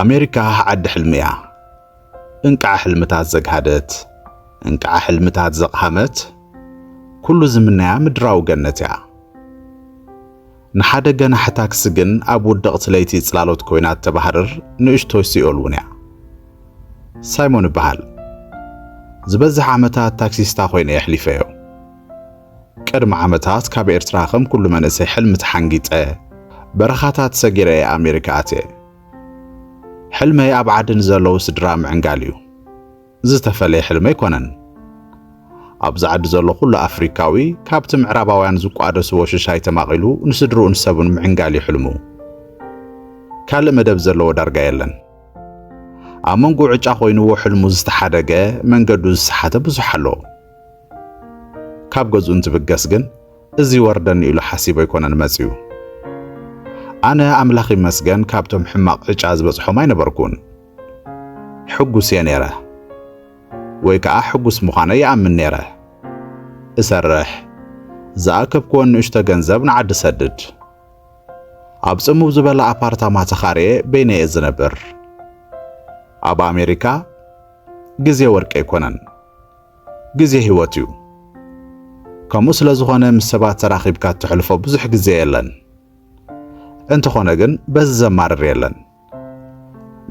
ኣሜሪካ ዓዲ ሕልሚ እያ እንቃዓ ሕልምታት ዘግሃደት እንቃዓ ሕልምታት ዘቕሃመት ኩሉ ዝምነያ ምድራዊ ገነት እያ። ንሓደ ገናሒ ታክሲ ግን ኣብ ውድቕቲ ለይቲ ጽላሎት ኮይና እተባህርር ንእሽቶይ ሲኦል እውን እያ። ሳይሞን እበሃል። ዝበዝሕ ዓመታት ታክሲስታ ኮይነ እየ ኣሕሊፈዮ። ቅድሚ ዓመታት ካብ ኤርትራ ከም ኩሉ መንእሰይ ሕልሚ ተሓንጊጠ በረኻታት ሰጊረ እየ ኣሜሪካ ኣትየ። ሕልመይ ኣብ ዓዲ ንዘለዉ ስድራ ምዕንጋል እዩ። ዝተፈለየ ሕልሚ ኣይኮነን። ኣብዚ ዓዲ ዘሎ ኩሉ ኣፍሪካዊ ካብቲ ምዕራባውያን ዝቋደስዎ ሽሻይ ተማቒሉ ንስድርኡን ሰቡን ምዕንጋል እዩ ሕልሙ። ካልእ መደብ ዘለዎ ዳርጋ የለን። ኣብ መንጎ ዕጫ ኮይንዎ ሕልሙ ዝተሓደገ መንገዱ ዝሰሓተ ብዙሕ ኣሎ። ካብ ገዝኡ እንትብገስ ግን እዚ ይወርደኒ ኢሉ ሓሲቡ ኣይኮነን መፅዩ። ኣነ ኣምላኽ ይመስገን ካብቶም ሕማቕ ዕጫ ዝበፅሖም ኣይነበርኩን። ሕጉስ እየ ነይረ ወይ ከኣ ሕጉስ ምዃነይ ይኣምን ነይረ። እሰርሕ፣ ዝኣከብክወን ንእሽቶ ገንዘብ ንዓዲ እሰድድ። ኣብ ጽምው ዝበለ ኣፓርታማ ተኻርየ በይነይ እየ ዝነብር። ኣብ ኣሜሪካ ግዜ ወርቂ ኣይኮነን፣ ግዜ ህይወት እዩ። ከምኡ ስለ ዝኾነ ምስ ሰባት ተራኺብካ እተሕልፎ ብዙሕ ግዜ የለን። እንተኾነ ግን በዚ ዘማርር የለን።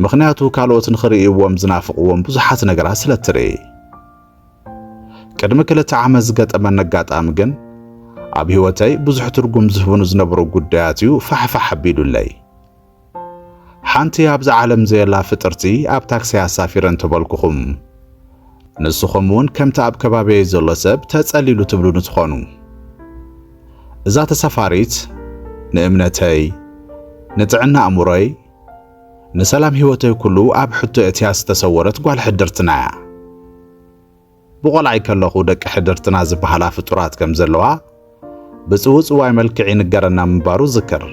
ምኽንያቱ ካልኦት ንኽርእይዎም ዝናፍቕዎም ብዙሓት ነገራት ስለ እትርኢ። ቅድሚ ክልተ ዓመት ዝገጠመኒ ኣጋጣሚ ግን ኣብ ህይወተይ ብዙሕ ትርጉም ዝህቡኑ ዝነበሩ ጉዳያት እዩ ፋሕፋሕ ኣቢሉለይ። ሓንቲ ኣብዚ ዓለም ዘየላ ፍጥርቲ ኣብ ታክሲ ኣሳፊረ እንተበልኩኹም ንስኹም እውን ከምቲ ኣብ ከባቢየይ ዘሎ ሰብ ተጸሊሉ ትብሉኒ ትኾኑ። እዛ ተሳፋሪት ንእምነተይ፣ ንጥዕና ኣእምሮይ፣ ንሰላም ህይወተይ ኩሉ ኣብ ሕቶ የእትያ ዝተሰወረት ጓል ሕድርትና'ያ። ብቆልዓይ ከለኹ ደቂ ሕድርትና ዝበሃላ ፍጡራት ከም ዘለዋ ብጽውጽዋይ መልክዕ ይንገረና ምንባሩ እዝክር።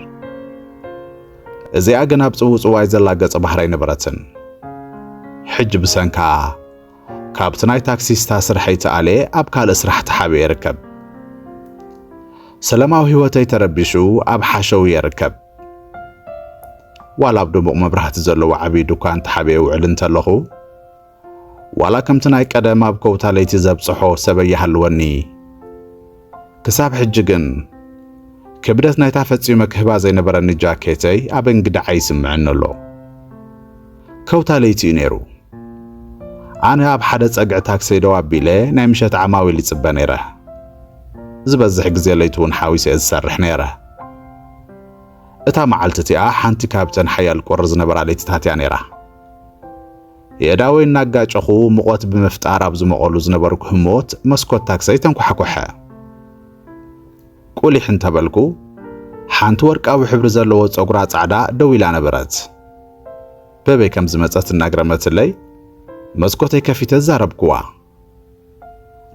እዚኣ ግን ኣብ ጽውጽዋይ ዘላ ገጸ ባህሪ ኣይነበረትን። ሕጂ ብሰንካ ካብቲ ናይ ታክሲስታ ስርሐይ ተኣልየ ኣብ ካልእ ስራሕ ተሓቢኤ ይርከብ። ሰለማዊ ህይወተይ ተረቢሹ ኣብ ሓሸውየ ይርከብ። ዋላ ኣብ ድሙቕ መብራህቲ ዘለዎ ዓብዪ ድኳን ተሓቢኤ ውዕል እንተለኹ፣ ዋላ ከምቲ ናይ ቀደም ኣብ ከውታ ለይቲ ዘብጽሖ ሰበይ ይሃልወኒ። ክሳብ ሕጂ ግን ክብደት ናይታ ፈጺመ ክህባ ዘይነበረኒ ጃኬተይ ኣብ እንግድዓ ይስምዐኒ ኣሎ። ከውታ ለይቲ እዩ ነይሩ። ኣነ ኣብ ሓደ ጸግዒ ታክሰይ ደው ኣቢለ ናይ ምሸት ዓማዊል ይጽበ ነይረ። ዝበዝሕ ግዜ ለይቲ እውን ሓዊሰ እየ ዝሰርሕ ነይረ። እታ መዓልቲ እቲኣ ሓንቲ ካብተን ሓያል ቁሪ ዝነበራ ለይትታት እያ ነይራ። የእዳወይ እናጋጨኹ ሙቐት ብምፍጣር ኣብ ዝሞቐሉ ዝነበርኩ ህሞት መስኮት ታክሰይ ተንኳሕኮሐ። ቁሊሕ እንተበልኩ ሓንቲ ወርቃዊ ሕብሪ ዘለዎ ጸጉራ ጻዕዳ ደው ኢላ ነበረት። በበይ ከም ዝመጸት እናግረመትለይ መስኮተይ ከፊተ ዛረብኩዋ።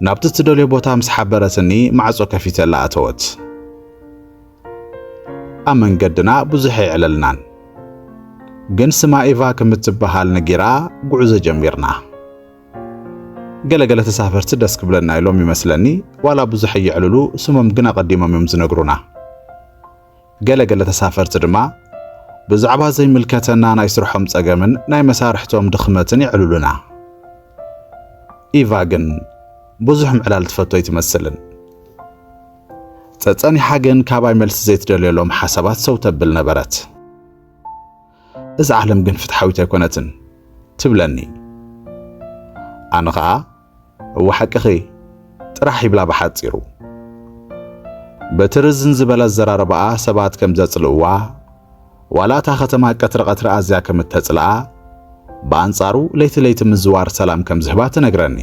ናብቲ እትደልዮ ቦታ ምስ ሓበረትኒ ማዕጾ ከፊተላ ኣተወት። ኣብ መንገድና ብዙሕ ኣይዕለልናን፣ ግን ስማ ኢቫ ከም እትበሃል ነጊራ ጉዕዞ ጀሚርና። ገለገለ ተሳፈርቲ ደስ ክብለና ኢሎም ይመስለኒ ዋላ ብዙሕ ኣየዕልሉ፣ ስሞም ግን ኣቐዲሞም እዮም ዝነግሩና። ገለ ገለ ተሳፈርቲ ድማ ብዛዕባ ዘይምልከተና ናይ ስርሖም ጸገምን ናይ መሳርሕቶም ድኽመትን የዕልሉና። ኢቫ ግን ብዙሕ ምዕላል ትፈቶ ኣይትመስልን። ጸጸኒሓ ግን ካባይ መልሲ ዘይትደልየሎም ሓሳባት ሰው ተብል ነበረት። እዛ ዓለም ግን ፍትሓዊት ኣይኮነትን ትብለኒ። ኣነ ኸኣ እወ ሓቅኺ ጥራሕ ይብላ ብሓጺሩ። በቲ ርዝን ዝበለ ኣዘራርባኣ ሰባት ከም ዘጽልእዋ፣ ዋላ እታ ከተማ ቀትሪ ቀትሪ ኣዝያ ከም እተጽልኣ፣ ብኣንጻሩ ለይቲ ለይቲ ምዝዋር ሰላም ከም ዝህባ ትነግረኒ።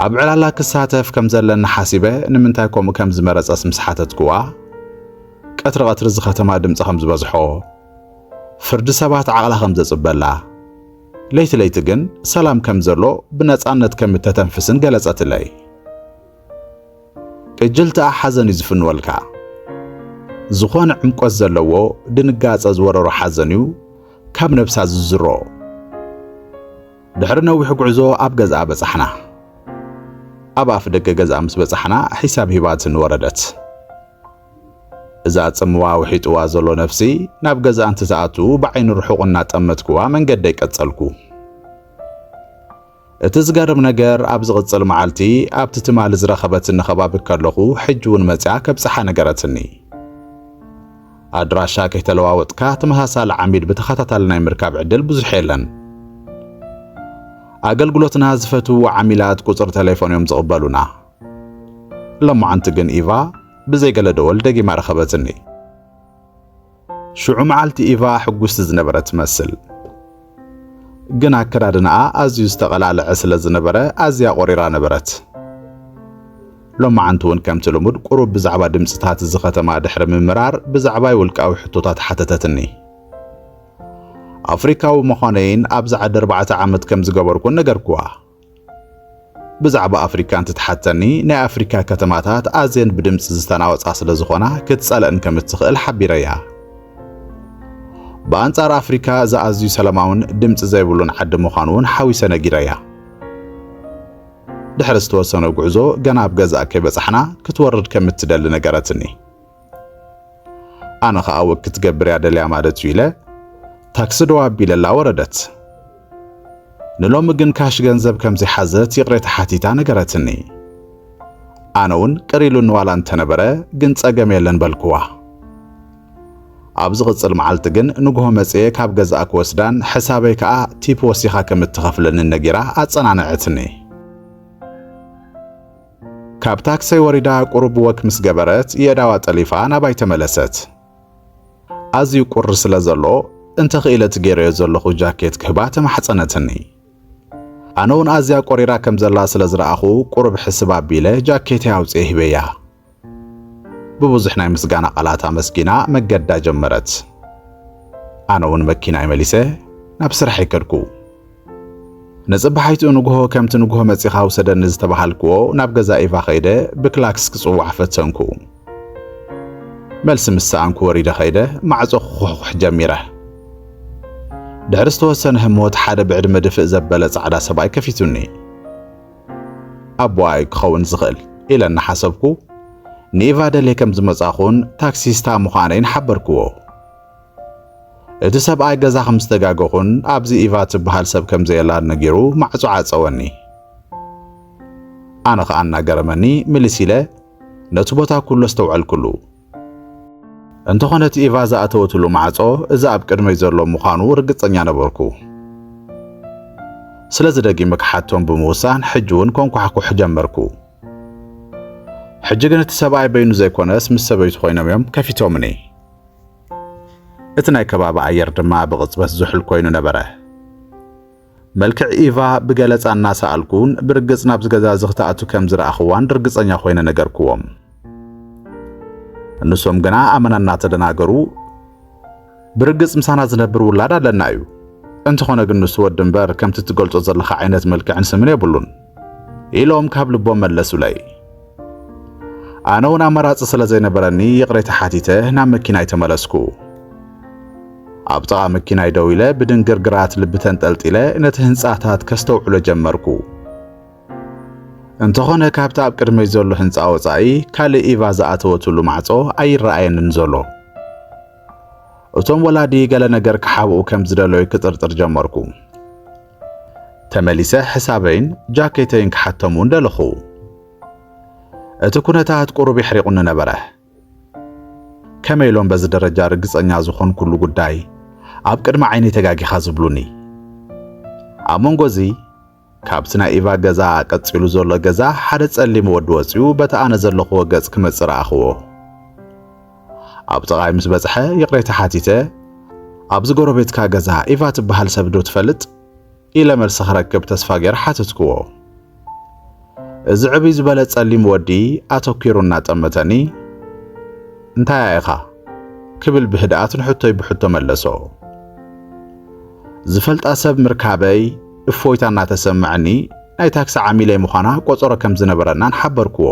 ኣብ ዕላላ ክሳተፍ ከም ዘለኒ ሓሲበ ንምንታይ ከምኡ ከም ዝመረጸስ ምስ ሓተትክዋ፣ ቀትሪ ቀትሪ እዚ ከተማ ድምጺ ከም ዝበዝሖ፣ ፍርዲ ሰባት ዓቕላ ከም ዘጽበላ፣ ለይቲ ለይቲ ግን ሰላም ከም ዘሎ ብነጻነት ከም እተተንፍስን ገለጸትለይ። ቅጅልትኣ ሓዘን እዩ ዝፍንወልካ። ዝኾነ ዕምቆት ዘለዎ ድንጋጸ ዝወረሮ ሓዘን እዩ ካብ ነብሳ ዝዝሮ። ድሕሪ ነዊሕ ጉዕዞ ኣብ ገዝኣ በጻሕና። ኣብ ኣፍ ደገ ገዝኣ ምስ በጻሕና ሒሳብ ሂባትኒ ወረደት። እዛ ጽምዋ ውሒጥዋ ዘሎ ነፍሲ ናብ ገዛኣ እንትትኣቱ ብዓይኒ ርሑቕ እናጠመትክዋ መንገደይ ቀጸልኩ። እቲ ዝገርም ነገር ኣብ ዝቕጽል መዓልቲ ኣብቲ ትማሊ ዝረኸበትኒ ከባቢ ከለኹ ሕጂ እውን መጺኣ ከብጽሓ ነገረትኒ። ኣድራሻ ከይተለዋወጥካ ተመሳሳሊ ዓሚል ብተኸታታሊ ናይ ምርካብ ዕድል ብዙሕ የለን። ኣገልግሎትና ዝፈትውዎ ዓሚላት ቁጽሪ ተሌፎን እዮም ዝቕበሉና። ሎማዓንቲ ግን ኢቫ ብዘይ ገለ ደወል ደጊማ ረኸበትኒ። ሽዑ መዓልቲ ኢቫ ሕጉስቲ ዝነበረት ትመስል። ግን ኣከዳድናኣ ኣዝዩ ዝተቐላልዐ ስለ ዝነበረ ኣዝያ ቆሪራ ነበረት። ሎማዓንቲ እውን ከምቲ ልሙድ ቁሩብ ብዛዕባ ድምፅታት እዚ ከተማ ድሕሪ ምምራር ብዛዕባይ ውልቃዊ ሕቶታት ሓተተትኒ። ኣፍሪካዊ ምዃነይን ኣብዚ ዓዲ ኣርባዕተ ዓመት ከም ዝገበርኩን ነገርኩዋ። ብዛዕባ ኣፍሪካ እንትትሓተኒ ናይ ኣፍሪካ ከተማታት ኣዝየን ብድምፂ ዝተናወፃ ስለ ዝኾና ክትፀልእን ከም እትኽእል ሓቢረያ። ብኣንጻር ኣፍሪካ እዚ ኣዝዩ ሰላማውን ድምፂ ዘይብሉን ዓዲ ምዃኑ እውን ሓዊሰ ነጊረያ። ድሕሪ ዝተወሰነ ጉዕዞ ገና ኣብ ገዛእ ከይበጻሕና ክትወርድ ከም እትደሊ ነገረትኒ። ኣነ ኸኣ ወክ ክትገብር እያ ደልያ ማለት እዩ ኢለ ታክሲ ደው ኣቢለላ ወረደት። ንሎሚ ግን ካሽ ገንዘብ ከም ዘይሓዘት ይቕሬታ ሓቲታ ነገረትኒ። ኣነ እውን ቅር ኢሉኒ ዋላ እንተነበረ ግን ጸገም የለን በልክዋ። ኣብ ዝቕጽል መዓልቲ ግን ንግሆ መጽየ ካብ ገዛኣ ክወስዳን ሕሳበይ ከኣ ቲፕ ወሲኻ ከም እትኸፍለኒ ነጊራ ኣጸናንዐትኒ። ካብ ታክሰይ ወሪዳ ቁሩብ ወክ ምስ ገበረት የዳዋ ጠሊፋ ናባይ ተመለሰት። ኣዝዩ ቁሪ ስለ ዘሎ እንተ ኽኢለ እቲ ገይረዮ ዘለኹ ጃኬት ክህባ ተማሕጸነትኒ። ኣነ ውን ኣዝያ ቆሪራ ከም ዘላ ስለ ዝረኣኹ ቁሩብ ሕስብ ኣቢለ ጃኬተይ ኣውጺኤ ሂበያ። ብብዙሕ ናይ ምስጋና ቃላት ኣመስጊና መገዳ ጀመረት። ኣነ ውን መኪናይ መሊሰ ናብ ስራሐይ ከድኩ። ንጽባሒቱ ንግሆ ከምቲ ንግሆ መጺኻ ውሰደኒ ዝተባሃልክዎ ናብ ገዛ ኢቫ ከይደ ብክላክስ ክጽዋዕ ፈተንኩ። መልሲ ምስ ሰኣንኩ ወሪደ ከይደ ማዕጾ ክኹሕኩሕ ጀሚረ። ድሕሪ ዝተወሰነ ህሞት ሓደ ብዕድመ ድፍእ ዘበለ ጻዕዳ ሰብኣይ ከፊቱኒ። ኣቦኣ እዩ ክኸውን ዝኽእል ኢለ እናሓሰብኩ ንኢቫ ደልየ ከም ዝመጻኹን ታክሲስታ ምዃነይን ሓበርክዎ። እቲ ሰብኣይ ገዛ ከም ዝተጋገኹን ኣብዚ ኢቫ እትበሃል ሰብ ከም ዘየላን ነጊሩ ማዕጾ ዓጸወኒ። ኣነ ኸኣ እናገረመኒ ምልስ ኢለ ነቲ ቦታ ኩሉ ኣስተውዐልኩሉ። እንተኾነ እቲ ኢቫ ዝኣተወትሉ ማዕጾ እዚ ኣብ ቅድመይ ዘሎ ምዃኑ ርግጸኛ ነበርኩ። ስለዚ ደጊመ ክሓቶም ብምውሳን ሕጂ እውን ኮንኳሕኩሕ ጀመርኩ። ሕጂ ግን እቲ ሰብኣይ በይኑ ዘይኮነስ ምስ ሰበይቱ ኮይኖም እዮም ከፊቶምኒ። እቲ ናይ ከባቢ ኣየር ድማ ብቕጽበት ዝሑል ኮይኑ ነበረ። መልክዕ ኢቫ ብገለጻ እናሰኣልኩን ብርግጽ ናብዚ ገዛ እዚ ክትኣቱ ከም ዝረኣኽዋን ርግጸኛ ኮይነ ነገርክዎም። ንሶም ግና ኣመና እናተደናገሩ ብርግጽ ምሳና ዝነብር ውላድ ኣለና እዩ፣ እንተኾነ ግን ንሱ ወዲ እምበር ከምቲ እትገልጾ ዘለኻ ዓይነት መልክዕን ስምን የብሉን ኢሎም ካብ ልቦም መለሱለይ። ኣነ እውን ኣማራጺ ስለ ዘይነበረኒ ይቕሬታ ሓቲተ ናብ መኪናይ ተመለስኩ። ኣብ ጥቓ መኪናይ ደው ኢለ ብድንግርግራት ልቢ ተንጠልጢለ ነቲ ህንጻታት ከስተውዕሎ ጀመርኩ። እንተኾነ ካብቲ ኣብ ቅድመይ ዘሎ ህንጻ ወጻኢ ካልእ ኢቫ ዝኣተወትሉ ማዕጾ ኣይረኣየንን ዘሎ። እቶም ወላዲ ገለ ነገር ክሓብኡ ከም ዝደለዩ ክጥርጥር ጀመርኩ። ተመሊሰ ሕሳበይን ጃኬተይን ክሓቶም እውን ደለኹ። እቲ ኩነታት ቁሩብ የሕሪቑኒ ነበረ። ከመይ ኢሎም በዚ ደረጃ ርግጸኛ ዝኾንኩሉ ጉዳይ ኣብ ቅድሚ ዓይነይ ተጋጊኻ ዝብሉኒ? ኣብ መንጎ እዚ ካብቲ ናይ ኢቫ ገዛ ቀጺሉ ዘሎ ገዛ ሓደ ጸሊም ወዲ ወጺኡ በቲ ኣነ ዘለኹዎ ገጽ ክመጽእ ረኣኹዎ። ኣብ ጥቓይ ምስ በጽሐ ይቕሬታ ሓቲተ፣ ኣብዚ ጎረቤትካ ገዛ ኢቫ ትበሃል ሰብ ዶ ትፈልጥ? ኢለ መልሲ ክረክብ ተስፋ ገይረ ሓተትክዎ። እዚ ዕብይ ዝበለ ጸሊም ወዲ ኣተኲሩ እናጠመተኒ፣ እንታይ እያ ኢኻ? ክብል ብህድኣት ንሕቶይ ብሕቶ መለሶ። ዝፈልጣ ሰብ ምርካበይ እፎይታ እናተሰምዐኒ ናይ ታክሲ ዓሚለይ ምዃና ቆጸሮ ከም ዝነበረናን ሓበርክዎ።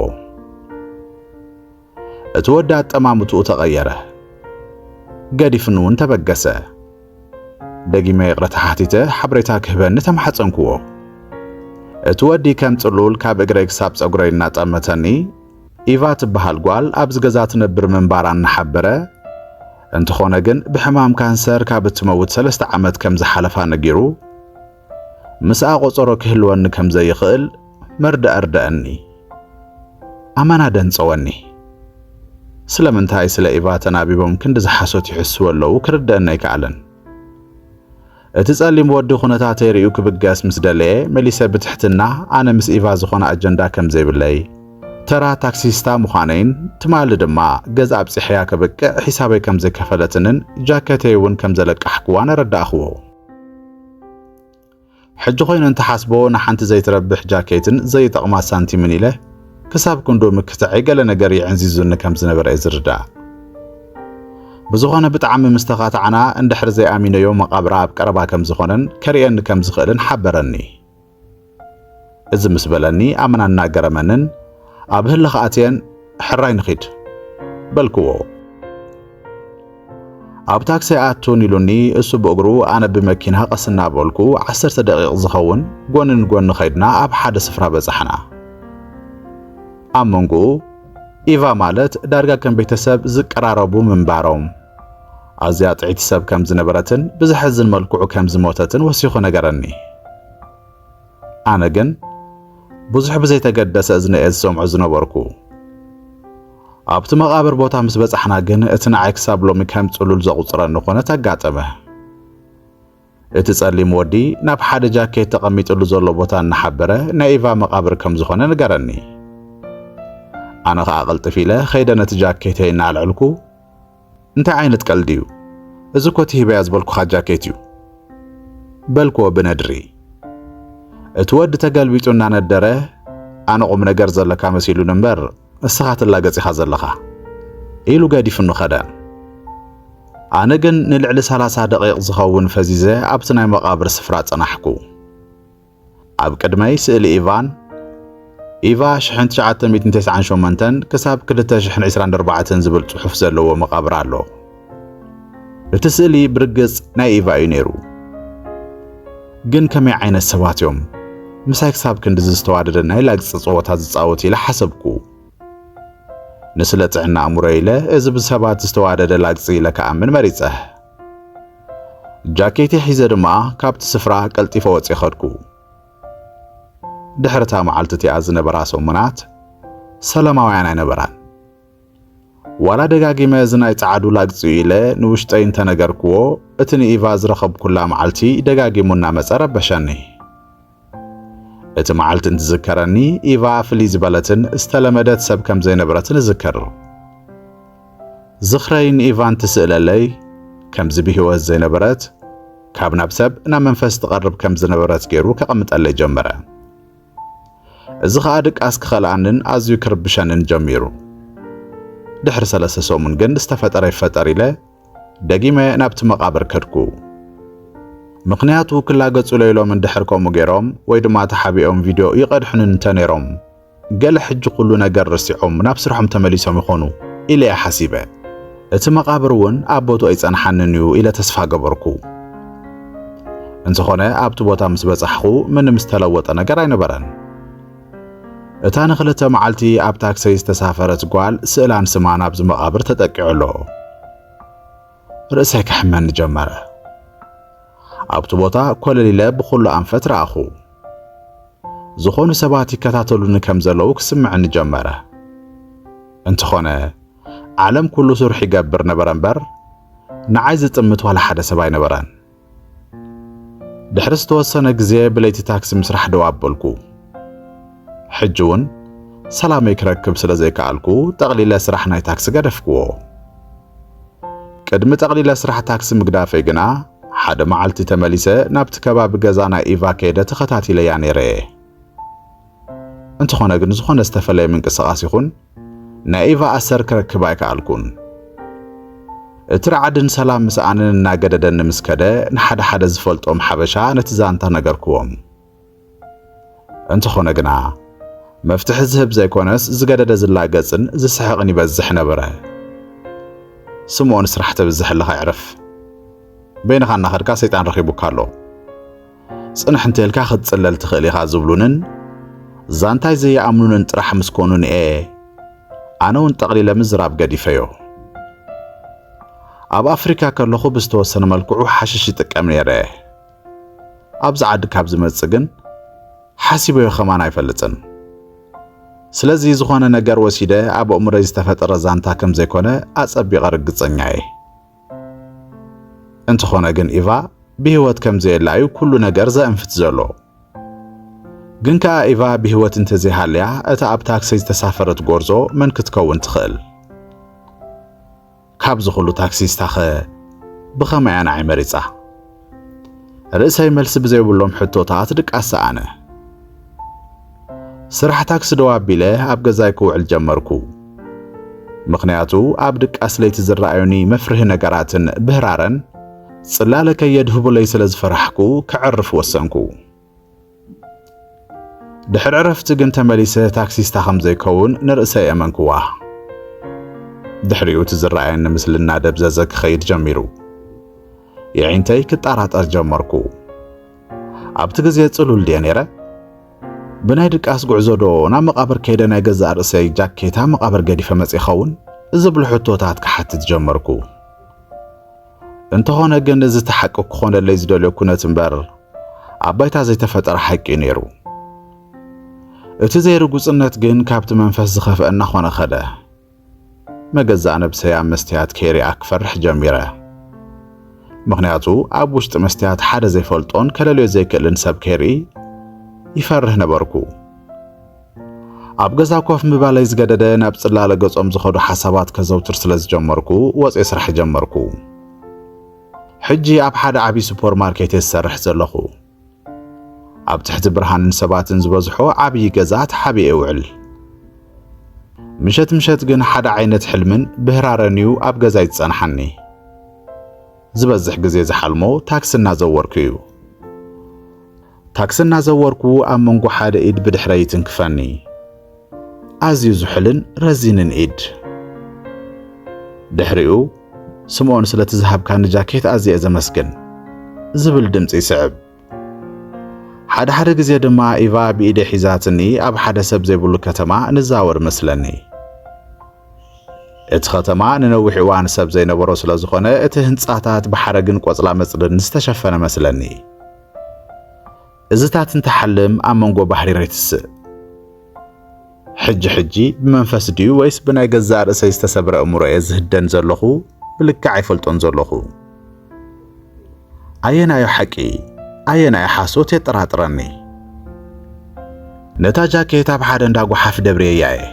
እቲ ወዲ ኣጠማምትኡ ተቐየረ። ገዲፍኒ እውን ተበገሰ። ደጊመ ይቕረታ ሓቲተ ሓበሬታ ክህበኒ ተማሕጸንክዎ። እቲ ወዲ ከም ጽሉል ካብ እግረይ ክሳብ ጸጉረይ እናጠመተኒ ኢቫ ትበሃል ጓል ኣብዚ ገዛ ትነብር ምንባራ እናሓበረ እንተኾነ ግን ብሕማም ካንሰር ካብ እትመውት ሰለስተ ዓመት ከም ዝሓለፋ ነጊሩ ምስኣ ቆጸሮ ክህልወኒ ከም ዘይኽእል መርድእ ኣርድኣኒ። ኣማን ኣደንጸወኒ። ስለምንታይ ስለ ኢቫ ተናቢቦም ክንድዚ ሓሶት ይሕስዉ ኣለዉ ክርድኣኒ ኣይከኣለን። እቲ ጸሊም ወዲ ኩነታተይ ርእዩ ክብገስ ምስ ደለየ መሊሰ ብትሕትና ኣነ ምስ ኢቫ ዝኾነ ኣጀንዳ ከም ዘይብለይ፣ ተራ ታክሲስታ ምዃነይን ትማሊ ድማ ገዛ ኣብጺሐያ ከብቅዕ ሒሳበይ ከም ዝከፈለትንን ጃከተይ እውን ከም ዘለቃሕኩዋን ኣረዳእክዎ። ሕጂ ኮይኑ እንትሓስቦ ንሓንቲ ዘይትረብሕ ጃኬትን ዘይጠቕማ ሳንቲምን ኢለ ክሳብ ክንዶ ምክትዐይ ገለ ነገር የዕንዚዙኒ ከም ዝነበረ እየ ዝርዳእ። ብዝኾነ ብጣዕሚ ምስ ተኻታዕና እንድሕሪ ዘይኣሚነዮ መቓብራ ኣብ ቀረባ ከም ዝኾነን ከርእየኒ ከም ዝኽእልን ሓበረኒ። እዚ ምስ በለኒ ኣመና እናገረመንን ኣብ ህልኽ ኣትየን ሕራይ ንኺድ በልክዎ። ኣብ ታክሲ ኣቱን ኢሉኒ እሱ ብእግሩ ኣነ ብመኪና ቀስ እናበልኩ ዓሰርተ ደቂቕ ዝኸውን ጎኒ ንጎኒ ኸይድና ኣብ ሓደ ስፍራ በጻሕና። ኣብ መንጎኡ ኢቫ ማለት ዳርጋ ከም ቤተሰብ ዝቀራረቡ ምንባሮም ኣዝያ ጥዕይቲ ሰብ ከም ዝነበረትን ብዘሕዝን መልክዑ ከም ዝሞተትን ወሲኹ ነገረኒ። ኣነ ግን ብዙሕ ብዘይተገደሰ እዝነየ ዝሰምዖ ዝነበርኩ። ኣብቲ መቓብር ቦታ ምስ በጻሕና ግን እቲ ንዓይ ክሳብ ሎሚ ከም ጽሉል ዘቑጽረኒ ኮነት ኣጋጠመ። እቲ ጸሊም ወዲ ናብ ሓደ ጃኬት ተቐሚጥሉ ዘሎ ቦታ እናሓበረ ናይ ኢቫ መቓብር ከም ዝኾነ ንገረኒ። ኣነ ኸኣ ቅልጥፍ ኢለ ኸይደ ነቲ ጃኬተይ እናኣልዕልኩ እንታይ ዓይነት ቀልዲ እዩ እዚ እኮ እቲ ሂበያ ዝበልኩኻ ጃኬት እዩ በልክዎ ብነድሪ እቲ ወዲ ተገልቢጡ እናነደረ ኣነ ቁም ነገር ዘለካ መሲሉን እምበር እስኻ ትላገጽ ኢኻ ዘለኻ ኢሉ ገዲፍኑ ከደ። ኣነ ግን ንልዕሊ ሰላሳ ደቒቕ ዝኸውን ፈዚዘ ኣብቲ ናይ መቓብር ስፍራ ጸናሕኩ። ኣብ ቅድመይ ስእሊ ኢቫን ኢቫ ሽሕን ትሽዓተ ሚእትን ቴስዓን ሸሞንተን ክሳብ ክልተ ሽሕን ዒስራን ኣርባዕተን ዝብል ጽሑፍ ዘለዎ መቓብር ኣሎ። እቲ ስእሊ ብርግጽ ናይ ኢቫ እዩ ነይሩ። ግን ከመይ ዓይነት ሰባት እዮም ምሳይ ክሳብ ክንድዚ ዝተዋደደ ናይ ላግጺ ጸወታ ዝጻወቱ ኢለ ሓሰብኩ። ንስለ ጥዕና ኣእምሮይ ኢለ እዚ ብሰባት ዝተዋደደ ላግጺ ኢለ ክኣምን መሪጸ። ጃኬተይ ሒዘ ድማ ካብቲ ስፍራ ቀልጢፈ ወጺ ኸድኩ። ድሕሪ እታ መዓልቲ እቲኣ ዝነበራ ሰሙናት ሰላማውያን ኣይነበራን። ዋላ ደጋጊመ እዚ ናይ ጸዓዱ ላግጺ'ዩ ኢለ ንውሽጠይ እንተ ነገርክዎ፣ እቲ ንኢቫ ዝረኸብኩላ መዓልቲ ደጋጊሙ እናመጸ ረበሸኒ። እቲ መዓልቲ እንትዝከረኒ፣ ኢቫ ፍልይ ዝበለትን ዝተለመደት ሰብ ከም ዘይነበረትን እዝክር። ዝኽረይ ንኢቫ እንትስእለለይ፣ ከምዚ ብህይወት ዘይነበረት፣ ካብ ናብ ሰብ ናብ መንፈስ ትቐርብ ከም ዝነበረት ገይሩ ከቐምጠለይ ጀመረ። እዚ ኸኣ ድቃስ ክኸልኣንን ኣዝዩ ክርብሸንን ጀሚሩ። ድሕሪ ሰለስተ ሰሙን ግን ዝተፈጠረ ይፈጠር ኢለ ደጊመ ናብቲ መቓብር ከድኩ። ምኽንያቱ ክላገጹለይ ኢሎም እንድሕር ከምኡ ገይሮም ወይ ድማ ተሓቢኦም ቪድዮ ይቐድሑኒ እንተ ነይሮም ገለ ሕጂ ኩሉ ነገር ረሲዖም ናብ ስርሖም ተመሊሶም ይኾኑ ኢለ'የ ሓሲበ። እቲ መቓብር እውን ኣብ ቦትኡ ኣይጸንሓንን እዩ ኢለ ተስፋ ገበርኩ። እንተኾነ ኣብቲ ቦታ ምስ በጻሕኹ ምንም ዝተለወጠ ነገር ኣይነበረን። እታ ንኽልተ መዓልቲ ኣብ ታክሰይ ዝተሳፈረት ጓል ስእላን ስማን ኣብዚ መቓብር ተጠቂዑ ኣሎ። ርእሰይ ከሕመኒ ጀመረ። ኣብቲ ቦታ ኮለል ኢለ ብኹሉ ኣንፈት ረኣኹ። ዝኾኑ ሰባት ይከታተሉኒ ከም ዘለዉ ክስምዕኒ ጀመረ። እንተኾነ ዓለም ኩሉ ስርሑ ይገብር ነበረ እምበር ንዓይ ዝጥምት ዋላ ሓደ ሰብ ኣይነበረን። ድሕሪ ዝተወሰነ ግዜ ብለይቲ ታክሲ ምስራሕ ደው ኣበልኩ። ሕጂ እውን ሰላመይ ክረክብ ስለ ዘይከኣልኩ ጠቕሊለ ስራሕ ናይ ታክሲ ገደፍክዎ። ቅድሚ ጠቕሊለ ስራሕ ታክሲ ምግዳፈይ ግና ሓደ መዓልቲ ተመሊሰ ናብቲ ከባቢ ገዛ ናይ ኢቫ ከይደ ተኸታቲለያ ነይረ እየ። እንተኾነ ግን ዝኾነ ዝተፈለየ ምንቅስቓስ ይኹን ናይ ኢቫ ኣሰር ክረክብ ኣይከኣልኩን። እቲ ራዕድን ሰላም ምስኣንን እናገደደኒ ምስ ከደ ንሓደ ሓደ ዝፈልጦም ሓበሻ ነቲ ዛንታ ነገርክዎም። እንተኾነ ግና መፍትሒ ዝህብ ዘይኮነስ ዝገደደ ዝላገጽን ዝስሕቕን ይበዝሕ ነበረ። ስምኦን ስራሕ ተብዝሕ ኣለኻ ዕረፍ በይንኻ እናኸድካ ሰይጣን ረኺቡካ ኣሎ። ጽንሕ እንተልካ ክትጽለል ትኽእል ኢኻ ዝብሉንን ዛንታይ ዘይኣምኑንን ጥራሕ ምስ ኮኑን'የ ኣነ እውን ጠቕሊለ ምዝራብ ገዲፈዮ። ኣብ ኣፍሪካ ከለኹ ብዝተወሰነ መልክዑ ሓሽሽ ይጥቀም ነይረ ኣብዚ ዓዲ ካብ ዝመጽእ ግን ሓሲበዮ ኸማን ኣይፈልጥን ስለዚ ዝኾነ ነገር ወሲደ ኣብ ኣእምሮይ ዝተፈጠረ ዛንታ ከም ዘይኮነ ኣጸቢቐ ርግጸኛ እየ እንተኾነ ግን ኢቫ ብህይወት ከም ዘየላ እዩ ኩሉ ነገር ዘእንፍት ዘሎ። ግን ከኣ ኢቫ ብህይወት እንተዘይሃልያ እታ ኣብ ታክሲ ዝተሳፈረት ጎርዞ መን ክትከውን ትኽእል? ካብዚ ኩሉ ታክሲስታኸ ብኸመይ ኣንዓይ መሪጻ? ርእሰይ መልሲ ብዘይብሎም ሕቶታት ድቃስ ሰኣነ። ስራሕ ታክሲ ደው ኣቢለ ኣብ ገዛይ ክውዕል ጀመርኩ። ምኽንያቱ ኣብ ድቃስ ለይቲ ዝረኣዩኒ መፍርሂ ነገራትን ብህራረን ጽላለ ከየድህቡለይ ስለ ዝፈራሕኩ ከዕርፍ ወሰንኩ። ድሕሪ ዕረፍቲ ግን ተመሊሰ ታክሲስታ ከም ዘይከውን ንርእሰይ ኣመንክዋ። ድሕሪኡ እቲ ዝረኣየኒ ምስሊ እናደብዘዘ ክኸይድ ጀሚሩ። የዒንተይ ክጠራጠር ጀመርኩ። ኣብቲ ግዜ ጽሉል ድየ ነይረ? ብናይ ድቃስ ጉዕዞ ዶ ናብ መቓብር ከይደ ናይ ገዛእ ርእሰይ ጃኬታ መቓብር ገዲፈ መጺ ይኸውን? ዝብሉ ሕቶታት ክሓትት ጀመርኩ። እንተኾነ ግን እዚ እቲ ሓቂ ክኾነለይ ዝደልዮ ኩነት እምበር ኣብ ባይታ ዘይተፈጠረ ሓቂ እዩ ነይሩ። እቲ ዘይርጉጽነት ግን ካብቲ መንፈስ ዝኸፍአ እናኾነ ኸደ። መገዛእ ነብሰይ ኣብ መስትያት ከይርኣ ክፈርሕ ጀሚረ። ምኽንያቱ ኣብ ውሽጢ መስትያት ሓደ ዘይፈልጦን ከለልዮ ዘይክእልን ሰብ ከይርኢ ይፈርህ ነበርኩ። ኣብ ገዛ ኮፍ ምባለይ ዝገደደ ናብ ጽላለ ገጾም ዝኸዱ ሓሳባት ከዘውትር ስለ ዝጀመርኩ ወጽየ ስራሕ ጀመርኩ። ሕጂ ኣብ ሓደ ዓብዪ ሱፐር ማርኬት እየ ዝሰርሕ ዘለኹ። ኣብ ትሕቲ ብርሃንን ሰባትን ዝበዝሖ ዓብዪ ገዛ ተሓቢኤ እውዕል። ምሸት ምሸት ግን ሓደ ዓይነት ሕልምን ብህራረን እዩ ኣብ ገዛይ ዝጸንሓኒ። ዝበዝሕ ግዜ ዝሓልሞ ታክሲ እናዘወርኩ እዩ። ታክሲ እናዘወርኩ ኣብ መንጎ ሓደ ኢድ ብድሕረይ ይትንክፈኒ። ኣዝዩ ዝሑልን ረዚንን ኢድ። ድሕሪኡ ስምኦን ስለቲ ዝሃብካኒ ጃኬት ኣዝየ ዘመስግን ዝብል ድምፂ ይስዕብ። ሓደ ሓደ ግዜ ድማ ኢቫ ብኢደይ ሒዛትኒ ኣብ ሓደ ሰብ ዘይብሉ ከተማ ንዛወር መስለኒ። እቲ ከተማ ንነዊሕ እዋን ሰብ ዘይነበሮ ስለ ዝኾነ እቲ ህንጻታት ብሓረግን ቆጽላ መጽልን ዝተሸፈነ መስለኒ። እዝታት እንተሓልም ኣብ መንጎ ባህሪ ሬትስእ ሕጂ ሕጂ ብመንፈስ ድዩ ወይስ ብናይ ገዛእ ርእሰይ ዝተሰብረ እምሮ እየ ዝህደን ዘለኹ ብልክዕ ኣይፈልጦን ዘለኹ ኣየናዮ ሓቂ ኣየናዮ ሓሶት የጠራጥረኒ ነታ ጃኬት ኣብ ሓደ እንዳ ጓሓፍ ደብርየያ እየ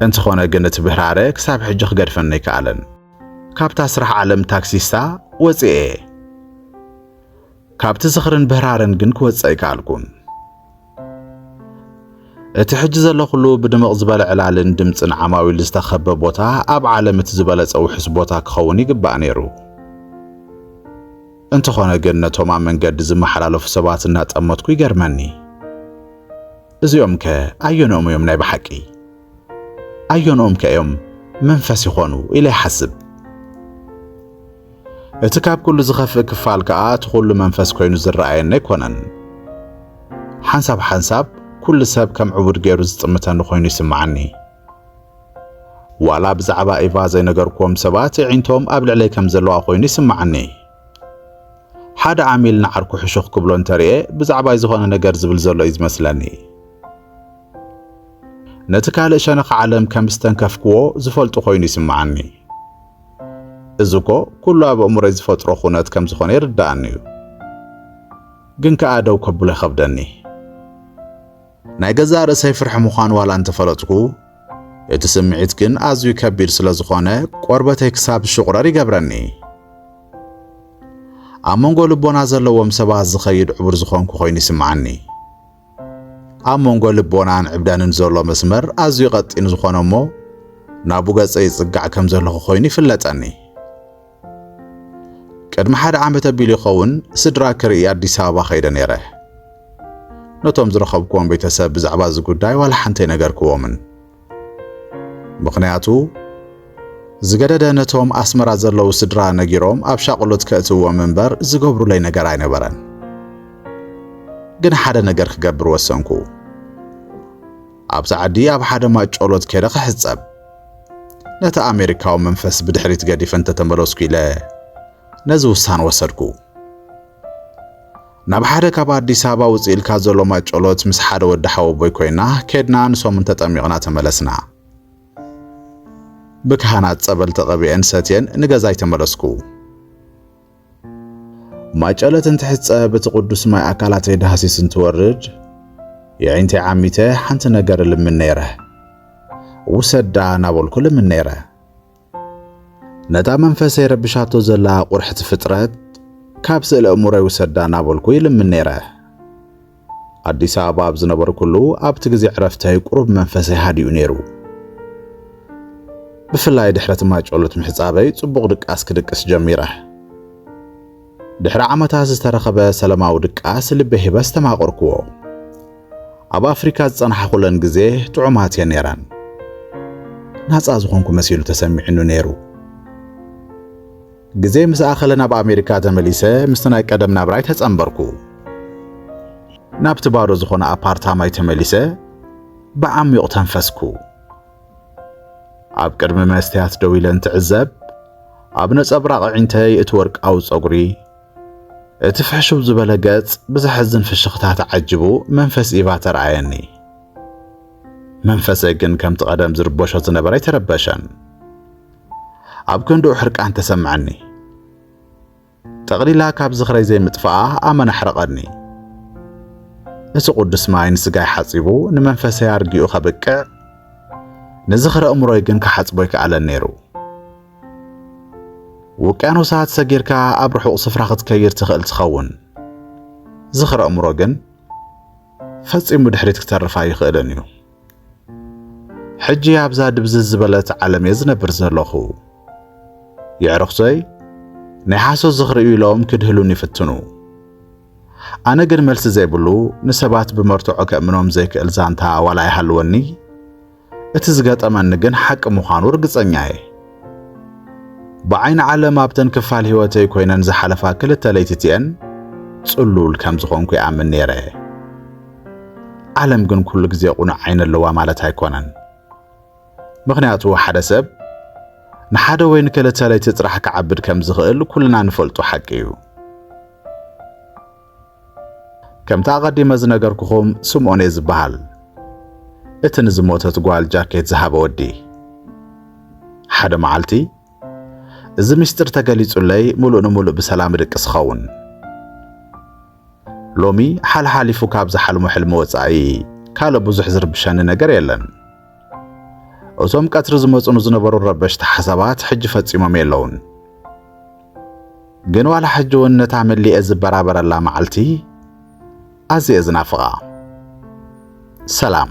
እንተኾነ ግን እቲ ብህራረ ክሳብ ሕጂ ክገድፈኒ ኣይከኣለን ካብታ ስራሕ ዓለም ታክሲስታ ወጺኤ። ካብቲ ዝኽርን ብህራርን ግን ክወጽእ ኣይከኣልኩን። እቲ ሕጂ ዘለኹሉ ብድምቕ ዝበለ ዕላልን ድምጽን ዓማዊል ዝተኸበ ቦታ ኣብ ዓለም እቲ ዝበለጸ ውሑስ ቦታ ክኸውን ይግባእ ነይሩ። እንተኾነ ግን ነቶም ኣብ መንገዲ ዝመሓላለፉ ሰባት እናጠመትኩ ይገርመኒ። እዚኦምከ ኣየንኦም እዮም ናይ ብሓቂ? ኣየንኦምከ እዮም መንፈስ ይኾኑ ኢለ ይሓስብ። እቲ ካብ ኩሉ ዝኸፍእ ክፋል ከዓ እቲ ኩሉ መንፈስ ኮይኑ ዝረኣየኒ ኣይኮነን። ሓንሳብ ሓንሳብ ኩሉ ሰብ ከም ዕቡድ ገይሩ ዝጥምተኒ ኮይኑ ይስምዓኒ። ዋላ ብዛዕባ ኢቫ ዘይነገርክዎም ሰባት እዒንቶም ኣብ ልዕለይ ከም ዘለዋ ኮይኑ ይስምዓኒ። ሓደ ዓሚል ንዓርኩ ሕሹኽ ክብሎ እንተርእየ ብዛዕባይ ዝኾነ ነገር ዝብል ዘሎ እዩ ዝመስለኒ። ነቲ ካልእ ሸነኽ ዓለም ከም ዝተንከፍክዎ ዝፈልጡ ኮይኑ ይስምዓኒ። እዚ እኮ ኩሉ ኣብ ኣእምሮይ ዝፈጥሮ ኩነት ከም ዝኾነ ይርድኣኒ እዩ። ግን ከኣ ደው ከብሎ ይኸብደኒ። ናይ ገዛእ ርእሰይ ፍርሒ ምዃን ዋላ እንተፈለጥኩ፣ እቲ ስምዒት ግን ኣዝዩ ከቢድ ስለ ዝኾነ ቆርበተይ ክሳብ ዝሽቑረር ይገብረኒ። ኣብ መንጎ ልቦና ዘለዎም ሰባት ዝኸይድ ዕቡር ዝኾንኩ ኮይኑ ይስምዓኒ። ኣብ መንጎ ልቦናን ዕብዳንን ዘሎ መስመር ኣዝዩ ቀጢን ዝኾነ እሞ ናቡ ገጸ ይጽጋዕ ከም ዘለኹ ኮይኑ ይፍለጠኒ። ቅድሚ ሓደ ዓመት ኣቢሉ ይኸውን ስድራ ክርኢ ኣዲስ ኣበባ ከይደ ነይረ። ነቶም ዝረኸብክዎም ቤተሰብ ብዛዕባ እዚ ጉዳይ ዋላ ሓንቲ ኣይነገርክዎምን። ምኽንያቱ ዝገደደ ነቶም ኣስመራ ዘለዉ ስድራ ነጊሮም ኣብ ሻቕሎት ከእትዎም እምበር ዝገብሩለይ ነገር ኣይነበረን። ግን ሓደ ነገር ክገብር ወሰንኩ። ኣብዛ ዓዲ ኣብ ሓደ ማጮሎት ከይደ ክሕጸብ ነቲ ኣሜሪካዊ መንፈስ ብድሕሪት ገዲፈ እንተተመለስኩ ኢለ ነዚ ውሳነ ወሰድኩ። ናብ ሓደ ካብ ኣዲስ ኣበባ ውፅእ ኢልካ ዘሎ ማጨሎት ምስ ሓደ ወዲ ሓወቦይ ኮይና ኬድና ንሰሙን ተጠሚቕና ተመለስና። ብካህናት ጸበል ተቐቢአን ሰትየን ንገዛይ ተመለስኩ። ማጨለት እንትሕጸ በቲ ቅዱስ ማይ ኣካላተይ ዳህሲስ እንትወርድ የዒንተይ ዓሚተ ሓንቲ ነገር ልምን ነይረ ውሰዳ ናበልኩ ልምን ነይረ ነታ መንፈሰይ ረብሻቶ ዘላ ቁርሕቲ ፍጥረት ካብ ስእለ እሙረይ ውሰዳ ናበልኩ ይልምን ነይረ ኣዲስ ኣበባ ኣብ ዝነበርኩሉ ኣብቲ ግዜ ዕረፍተይ ቁሩብ መንፈሰይ ሃዲኡ ነይሩ። ብፍላይ ድሕሪ እቲ ማይጨሎት ምሕጻበይ ጽቡቕ ድቃስ ክድቅስ ጀሚረ። ድሕሪ ዓመታት ዝተረኸበ ሰለማዊ ድቃስ ልበይ ሂበ ኣስተማቐርኩዎ። ኣብ ኣፍሪካ ዝጸናሕኹለን ግዜ ጥዑማት እየን ነይረን። ናጻ ዝኾንኩ መሲሉ ተሰሚዕኑ ነይሩ። ግዜ ምስ ኣኸለ ናብ ኣሜሪካ ተመሊሰ ምስቲ ናይ ቀደም ናብራይ ተጸንበርኩ። ናብቲ ባዶ ዝኾነ ኣፓርታማይ ተመሊሰ ብዓሚዩቕ ተንፈስኩ። ኣብ ቅድሚ መስትያት ደው ኢለ እንትዕዘብ ኣብ ነጸብራቕ ኣዒንተይ እቲ ወርቃዊ ጸጉሪ እቲ ፍሕሹብ ዝበለ ገጽ ብዘሐዝን ፍሽኽታ ተዓጅቡ መንፈስ ኢቫ ተረኣየኒ። መንፈሰይ ግን ከምቲ ቀደም ዝርበሾ ዝነበረ ኣይተረበሸን። ኣብ ክንድኡ ሕርቃን ተሰምዐኒ። ጠቕሊላ ካብ ዝኽረይ ዘይምጥፍኣ ኣመና ኣሕረቐኒ። እቲ ቅዱስ ማይ ንስጋይ ሓጺቡ ንመንፈሰይ ኣርጊኡ ከብቅዕ ንዝኽረ እምሮይ ግን ክሓጽቦ ኣይከኣለን ነይሩ። ውቅያኖሳት ሰጊርካ ኣብ ርሑቕ ስፍራ ክትከይድ ትኽእል ትኸውን። ዝኽረ እምሮ ግን ፈጺሙ ድሕሪት ክተርፍ ኣይኽእልን እዩ። ሕጂ ኣብዛ ድብዝዝ ዝበለት ዓለም እየ ዝነብር ዘለኹ። የዕርኽቶይ ናይ ሓሶት ዝኽሪ እዩ ኢሎም ክድህሉን ይፍትኑ። ኣነ ግን መልሲ ዘይብሉ ንሰባት ብመርትዖ ከእምኖም ዘይክእል ዛንታ ዋላ ይሃልወኒ እቲ ዝገጠመኒ ግን ሓቂ ምዃኑ ርግጸኛ እየ። ብዓይኒ ዓለም ኣብተን ክፋል ህይወተይ ኮይነን ዝሓለፋ ክልተ ለይትቲኤን ጽሉል ከም ዝኾንኩ ይኣምን ነይረ። ዓለም ግን ኩሉ ግዜ ቁኑዕ ዓይኒ ኣለዋ ማለት ኣይኮነን። ምኽንያቱ ሓደ ሰብ ንሓደ ወይ ንክልተ ለይቲ ጥራሕ ክዓብድ ከም ዝኽእል ኩልና ንፈልጦ ሓቂ እዩ። ከምቲ ኣቐዲመ ዝነገርኩኹም ስምኦን'የ ዝብሃል። እቲ ንዝሞተት ጓል ጃኬት ዝሃበ ወዲ። ሓደ መዓልቲ እዚ ምስጢር ተገሊጹለይ ምሉእ ንምሉእ ብሰላም እድቅስ እኸውን። ሎሚ ሓልሓሊፉ ካብ ዝሓልሞ ሕልሚ ወጻኢ ካልእ ብዙሕ ዝርብሸኒ ነገር የለን። እቶም ቀትሪ ዝመጹኑ ዝነበሩ ረበሽቲ ሓሳባት ሕጂ ፈጺሞም የለውን። ግን ዋላ ሕጂ እውን ነታ መሊኤ ዝበራበረላ መዓልቲ ኣዝየ ዝናፍቓ። ሰላም